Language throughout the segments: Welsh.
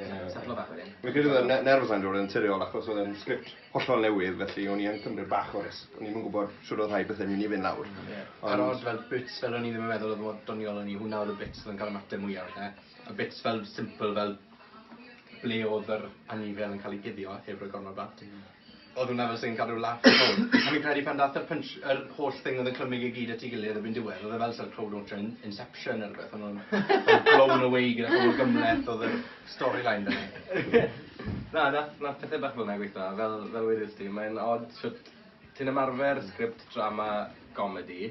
Ie. Setlo bach wedyn. Fi'n credu bod y ne- nerves 'na'n dod yn naturiol achos odd e'n script hollol newydd felly o'n i yn cymryd bach o risg. O'n i'm yn gwbod shwd o'dd rhai pethe'n myn' i fyn' lawr. Hmm ie. Ond... A'r od fel bits fel o'n i ddim yn meddwl odd mor doniol o'n i hwnna odd y bits odd yn ca'l y mateb mwya falle. Y bits fel simple fel ble odd yr anifail yn ca'l 'i guddio heb roi gormod o blant. Hmm. Oedd hwnna fel sy'n cadw laff a crowd. A fi'n credu pan dath yr punch yr holl thing oedd yn clymu i gyd at i gilydd erbyn diwedd oedd e fel sa'r crowd launcher yn Inception ne rwbeth o'n nhw'n fel blown away gyda holl gymhleth oedd yr storyline da ni. Na nath nath pethe bach fel na gweitho a fel fel wedest ti mae'n od shwt ti'n ymarfer sgript drama gomedi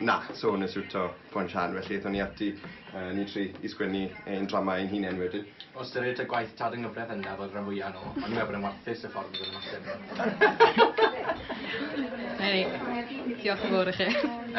Na, so nes i wto fo yn Sian, felly aethon ni ati, yy, ni tri, i sgwennu ein drama ein hunen wedyn. O ystyried ta gwaith Tad yng Nghyfraith Endaf oedd y rhan fwya yno, o'n i'n meddwl bod e'n warthus y ffordd roedd e'n ymateb. Hei, diolch yn fawr i chi.